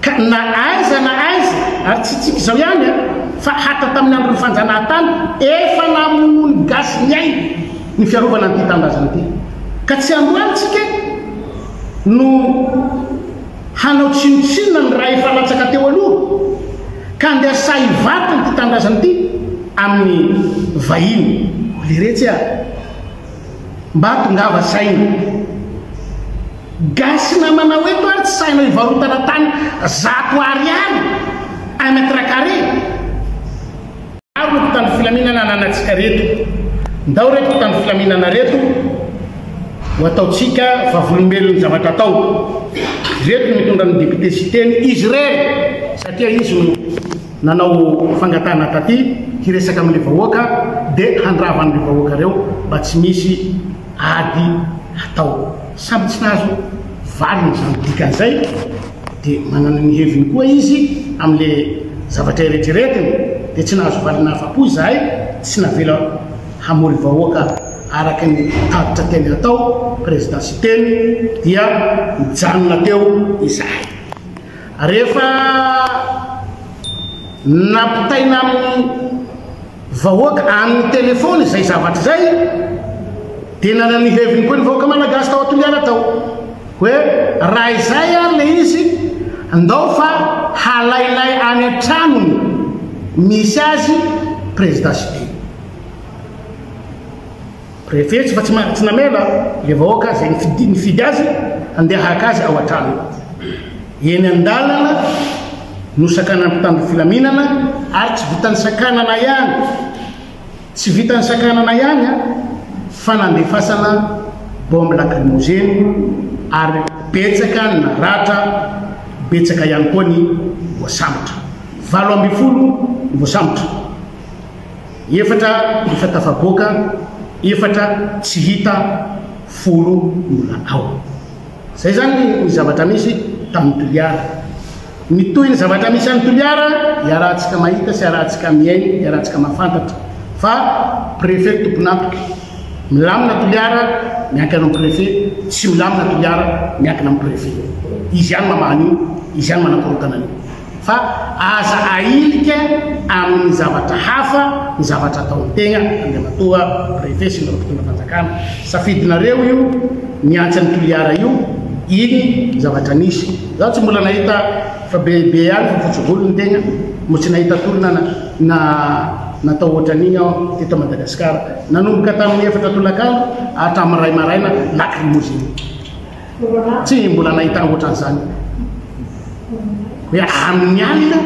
Ka na aiza na aiza, ary tsy tsika izao ihany an, fa hatra tamin'ny andron'ny fanjanahantany, efa namonoan'ny gasy ny ainy ny fiarovana an'ity tanindrazana ity. Ka tsy androany tsika no. Hanao tsinontsinona ny ra efa latsaka teo aloha ka andeha sahy hivarotra ity tanindrazana ity amin'ny vahiny. O leretsy a! Mba tongava saina. Gasy namanao eto ary tsy sahinao hivarotana tany zato ariary un mètre carré? Maro ny mpitandro filaminana ananantsika reto. Ndao reto mpitandro filaminana reto ho ataontsika vavolombelon'ny zavatra atao. Ireto no mitondra ny député Siteny, izy irery satria izy no nanao fangatahana taty hiresaka amin'ilay vahoaka dia handrava an'ireo vahoaka ireo mba tsy misy ady atao. Samy tsy nahazo valiny izany dikan'izay. dia manana ny heviny koa izy amin'ilay zavatra eretreretiny, dia tsy nahazo valiny afa-po izahay, tsy navela hamory vahoaka araka ny tatitra teny hatao, Président Siteny, dia nijanona teo izahay. Rehefa nampitaina amin'ny. Vahoaka any ny telephone izay zavatra izay dia nanana ny heviny koa ny vahoaka malagasy tao Toliara tao hoe raha izay ary le izy ndao fa halainay any an-tranony misy azy prezida Siteny. Prefet fa tsy ma tsy namela le vahoaka zay nifidy nifidy azy handeha haka azy ao an-tranony. Eny an-dalana no sakanan'ny mpitandro filaminana ary tsy vitan'ny sakanana ihany, tsy vitan'ny sakanana ihany an, fa nandefasana bombe lacrymogène ary betsaka ny naratra, betsaka ihany koa ny voasambotra. Valo ambin'ny folo ny voasambotra. Efatra efa tafaboaka, efatra tsy hita, folo mbola ao. Izay izany ny zavatra misy tamin'i Toliara. Mitohy ny zavatra misy any Toliara, iarahantsika mahita sy iarahantsika mihaino, iarahantsika mahafantatra fa Préfet tompon'antoka. Milamina Toliara, miankina amin'ny Préfet, tsy milamina Toliara, miankina amin'ny Préfet. Izy ihany mamaha an'io, izy ihany manakorontana an'io. fa aza ahilika amin'ny zavatra hafa ny zavatra ataon'ny tegna, Andriamatoa Préfet sy ireo mpitondram-panjakana, safidinareo io miantsa an'i Toliara io, iny ny zavatra nisy, zaho tsy mbola nahita fa be be ihany fa fotsy volo ny tegna, mbola tsy nahita tolona na natao ohatran'iny aho teto Madagasikara, nanomboka tamin'ny efatra tolakandro hatramin'ny iray maraina lacrymogène. Tsy mbola nahita ohatran'izany hoe amin'ny alina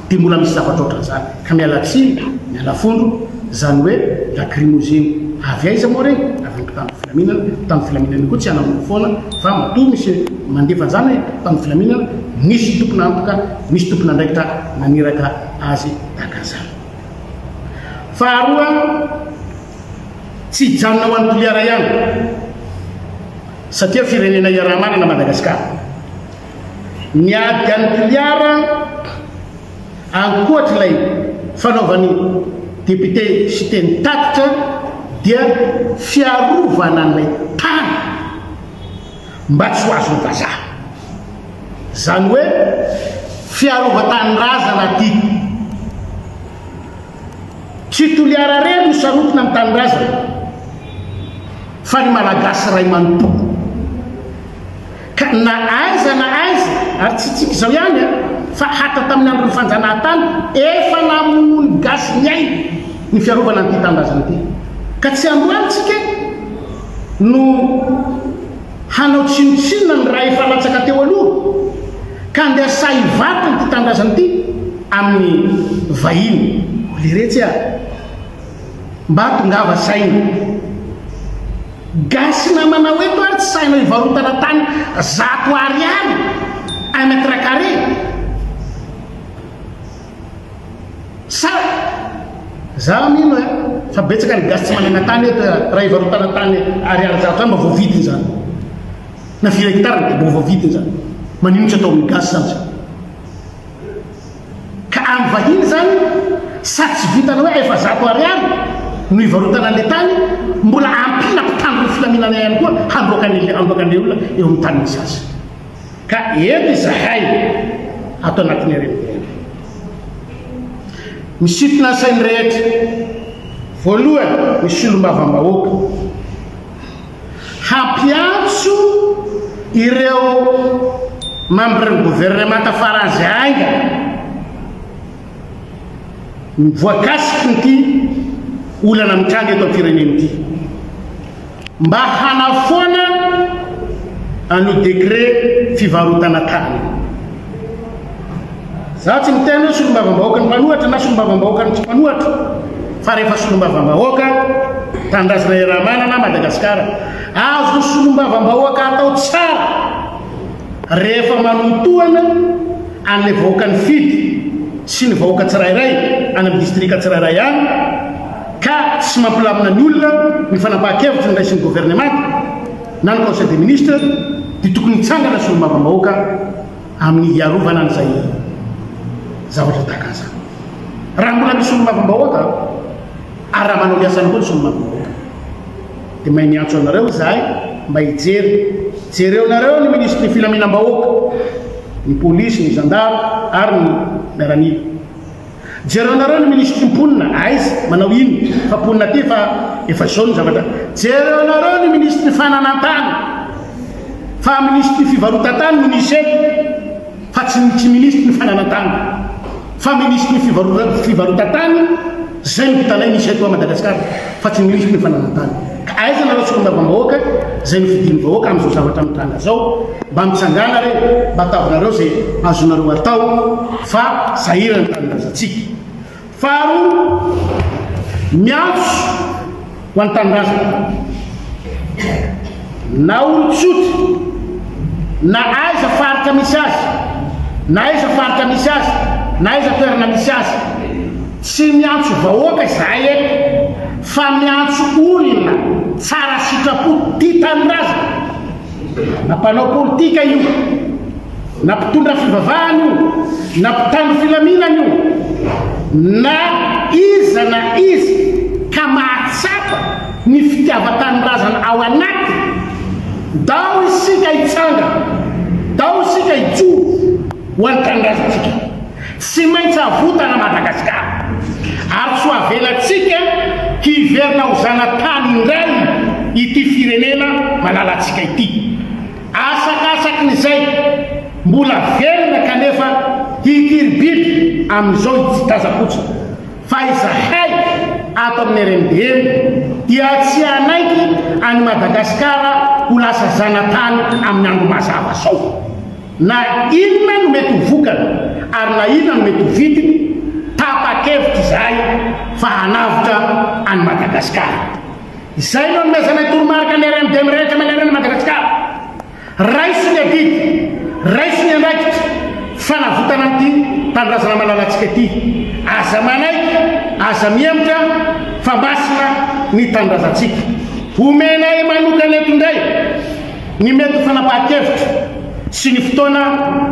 dia mbola misy zavatra ohatran'izany ka miala tsiny, miala fondro izany hoe lacrymogène avy aiza moa ireny? Avy amin'ny mpitandro filaminana, mpitandro filaminana io koa tsy hanamoro foana fa matoa misy mandefa an'izany mpitandro filaminana misy tompon'antoka, misy tompon'andraikitra naniraka azy tahaka an'izany. Faharoa. Tsy hijanona ho an'i Toliara ihany satria firenena iaraha-manana Madagasikara. Ny ady an'i Toliara, ankoatr'ilay fanaovan'ny depiote Siteny tatitra dia fiarovana an'ilay tany mba tsy ho azon'ny vazaha. Izany hoe fiarovan-tanindrazana ity. Tsy Toliara irery no sarotiny amin'ny tanindrazany fa ny Malagasy iray manontolo. Ka na aiza na aiza, ary tsy tsika izao ihany an, fa hatra tamin'ny andron'ny fanjanahantany efa namonoa ny gasy ny ainy ny fiarovana an'ity tanindrazana ity. Ka tsy androany tsika no. Hanao tsinontsinona ny ra efa latsaka teo aloha ka andeha sahy hivarotra ity tanindrazana ity amin'ny vahiny. O leretsy a! Mba tongava saina. Gasy namanao eto ary tsy sahinao hivarotana tany zato ariary un mètre carré? Sady za mino eh fa betsaka ny gasy tsy manana tany eto eh raha hivarotana tany ariary zato any mba voavidiny zany na firy hectare de mba voavidiny zany manino tsy atao amin'ny gasy zany zany ka any vahiny zany sady tsy vitana hoe efa zato ariary no hivarotana an'le tany mbola ampila mpitandro ny filaminana ihany koa handroaka an'le handroaka an'le olona eo amin'ny tanin'ny sasy Ka eny izahay ato anatin'ireny ireny. Misintona ny sain'ny rehetra. Voalohany ny solombavambahoaka. Hampiantso ireo membres ny gouvernemanta farazy haingana voakasiky ity olana mitranga eto amin'ny firenena ity. mba hanafoana an'io décret fivarotana tany io. Za tsy miteny hoe solombavambahoaka ny mpanohatra na solombavambahoaka ny tsy mpanohatra fa rehefa solombavambahoaka tanindrazana Iaramanana Madagasikara azo solombavambahoaka atao tsara rehefa manotohana an'ilay vahoaka nifidy sy ny vahoaka tsirairay any amin'ny distrika tsirairay any Ka tsy mampilamina ny olona ny fanapahan-kevitra noraisin'ny governemanta na ny Conseil des ministres dia tokony hitsangana solombavambahoaka amin'ny hiarovana an'izay zavatra tahaka an'izany. Raha mbola misy solombavambahoaka ary raha manao ny asany koa ny solombavambahoaka dia mahay miantso anareo izahay mba hijery. Jereonareo ny minisitry ny filaminam-bahoaka, ny polisy, ny zandary ary ny miaramila. Jereonareo ny minisitry ny mponina aiz manao inn fa mponina aty efa efa zao ny zavatra jereonareo ny minisitry ny fananantany fa minisitry ny fivarotatany no misy eto fa tsy ny tsy minisitry ny fananantany fa minisitry ny fivarotatany zay ny vitanay misy eto a Madagascar fa tsy ny oizy mpananantany. Ka aiza nareo solombavambahoaka zay nofidin'ny vahoaka amzao zavatra mitranga zao? Mba mitsangana re, mba ataovnareo ze azonareo atao fa sahira ny tanindrazantsika. Faharoa, miantso ho an'ny tanindrazana na olon-tsotra na aiza faritra misy azy, na aiza faritra misy azy, na aiza toerana misy azy, Tsy miantso vahoaka izahay eto fa miantso olona tsara sitrapo tia tanindrazana. Na mpanao politika io, na mpitondra fivavahana io, na mpitandro filaminana io, na iza na iza ka mahatsapa ny fitiavan-tanindrazana ao anatiny, dao isika hitsangana, dao isika hijoro ho an'ny tanindrazantsika. Tsy maintsy havotana Madagasikara ary tsy ho avelantsika hiverina ho zanatany indray ity firenena malalantsika ity. Asakasakin'izay mbola velona kanefa hikiribiby amin'izao i Tsidazapotsy fa izahay ato amin'ny RMDM dia tsy hanaiky an'i Madagasikara ho lasa zanatany amin'ny andro mazava zao. Na inona no mety ho vokany ary na inona no mety ho vidiny, tapa-kevitra izahay fa hanavotra an'i Madagasikara. Izay no anomezanay toromarika ny RMD mirehitra manerana an'i Madagasikara. Raiso ny adidy, raiso ny andraikitra fanavotana an'ity tanindrazana malalantsika ity. Aza manaiky, aza mihemotra fa masina ny tanindrazantsika. Homenay manokana eto indray. ny mety ho fanapahan-kevitra sy ny fotoana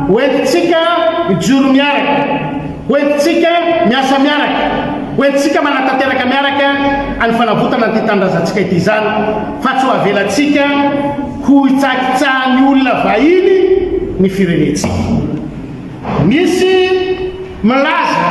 hoentintsika mijoro miaraka, hoentintsika miasa miaraka, hoentintsika manatanteraka miaraka any fanavotana an'ity tanindrazantsika ity izany fa tsy ho avelantsika ho hitsakitsahan'ny olona vahiny ny firenentsika. Misy milaza,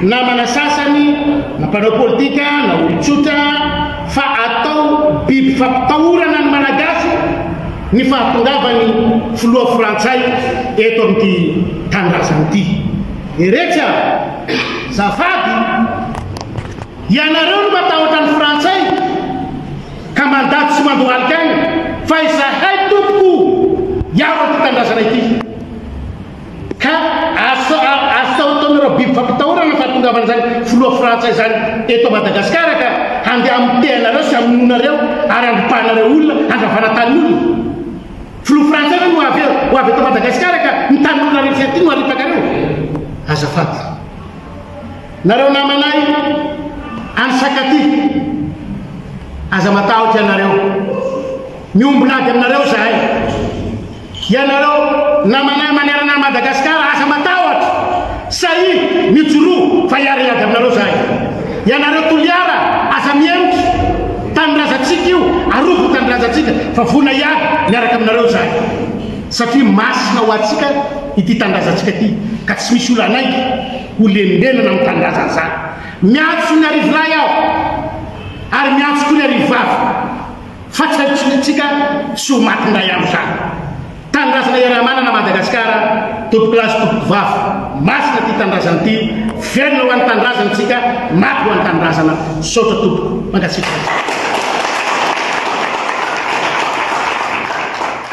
namana sasany, na mpanao politika, na olon-tsotra, fa atao biby fampitahorana ny Malagasy ny fahatongavan'ny filoha frantsay eto amin'ity tanindrazana ity. Eretsy aho, zafady, ianareo no matahotra ny frantsay ka mandaty sy mandohalika any, fa izahay tompoko hiaro an'ity tanindrazana ity. Ka asa asa ataonareo biby fampitahorana fahatongavan'izany filoha frantsay izany eto Madagascar ka handeha hamiteha anareo sy hamonoanareo ary handropahanareo olona handravana tanin'olona? Filoha frantsay ve no ho avy ho avy eto Madagascar ka ny tanin'olona rehetra ity no haripakareo? Azafady nareo namanay any Sakaty aza matahotra ianareo miombon'ady aminareo zahay. Ianareo namanay manerana an'i Madagasikara aza matahotra! Sahia mijoroa fa hiara hiady aminareo izahay! Ianareo Toliara aza mihemotra! Tanindrazantsika io, arovy ny tanindrazantsika fa vonona hiady miaraka aminareo izahay! Satria masina ho antsika ity tanindrazantsika ity ka tsy misy olona hanaiky ho lembenana amin'ny tanindrazana izany! Miantso ny Arivolahy aho ary miantso koa ny Arivavy! Fa tsy hadisoantsika soa maty indray andro izany. Tanindrazana iaraha-manana Madagasikara, tompoko lahy sy tompoko vavy. Masina ity tanindrazana ity, velona ho an'ny tanindrazana isika, maty ho an'ny tanindrazana. Misaotra tompoko. Mankasitraka.